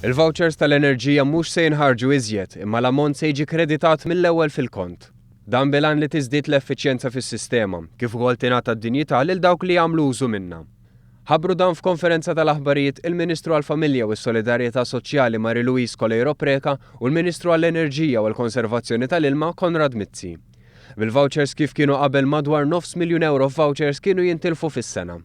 Il-vouchers tal-enerġija mhux se jinħarġu iżjed imma l-ammont se jiġi kreditat mill-ewwel fil-kont. Dan bil-għan li tiżdied l-effiċjenza fis-sistema, kif ukoll tingħata d-dinjità lil dawk li jagħmlu użu minnha. Ħabbru dan f'konferenza tal-aħbarijiet il-Ministru għall-Familja u s-Solidarjetà Soċjali Marie Louise Coleiro Preca u l-Ministru għall-Enerġija u l-Konservazzjoni tal-Ilma Konrad Mizzi. Bil-vouchers kif kienu qabel madwar nofs miljun ewro f'vouchers kienu jintilfu fis-sena.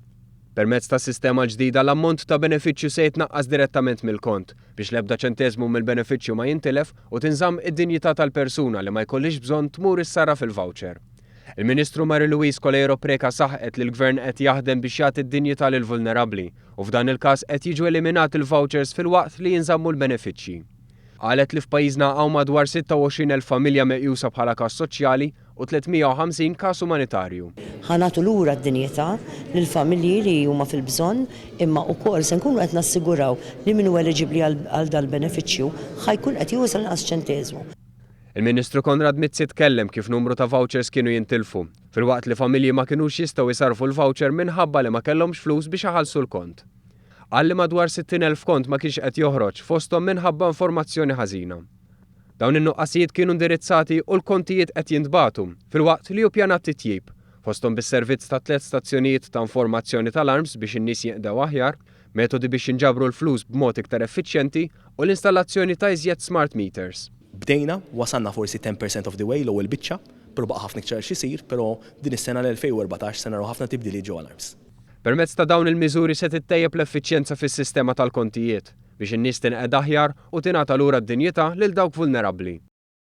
Permezz tas-sistema l-ġdida l-ammont ta' benefiċċju se jitnaqqas direttament mill-kont, biex l-ebda ċenteżmu mill-benefiċċju ma jintilef u tinżamm id-dinjità tal-persuna li ma jkollhiex bżonn tmur issarraf il-voucher. Il-Ministru Mary Louise Coleiro Preca saħqet li l-Gvern qed jaħdem biex jagħti d-dinjità lill-vulnerabbli u f'dan il-każ qed jiġu eliminati l-vouchers filwaqt li jinżammu l-benefiċċji. Qalet li f'pajjiżna hawn madwar 26,000 familja meqjusa bħala każ soċjali u 350 każ umanitarju. Ħa nagħtu lura d-dinjità lill-familji li huma fil-bżonn imma wkoll se nkunu qed nassiguraw li min hu eliġibbli għal dal-benefiċċju ħa jkun qed jieħu sal-inqas ċenteżmu. Il-Ministru Konrad Mizzi tkellem kif numru ta' vouchers kienu jintilfu, filwaqt li familji ma kinux jistgħu jsarrfu l-voucher minħabba li ma kellhomx flus biex iħallsu l-kont. Qal li madwar 60,000 kont ma kienx qed joħroġ, fosthom minħabba informazzjoni ħażina. Dawn in-nuqqasijiet kienu indirizzati u l-kontijiet qed jintbagħtu, filwaqt li hu pjanat titjib, fosthom bis-servizz ta' tliet stazzjonijiet ta' informazzjoni tal-arms biex in-nies jinqdew aħjar, metodi biex jinġabru l-flus b'mod iktar effiċjenti u l-installazzjoni ta' iżjed smart meters. Bdejna, wasalna forsi ten per cent of the way, l-ewwel biċċa, però baqa' ħafna iktar x'isir, però din is-sena l-2014 se naraw ħafna tibdiliet ġewwa l-arms. Permezz ta' dawn il-miżuri se tittejjeb l-effiċjenza fis-sistema tal-kontijiet, biex in-nies tinqeda aħjar u tingħata lura d-dinjità lil dawk vulnerabbli.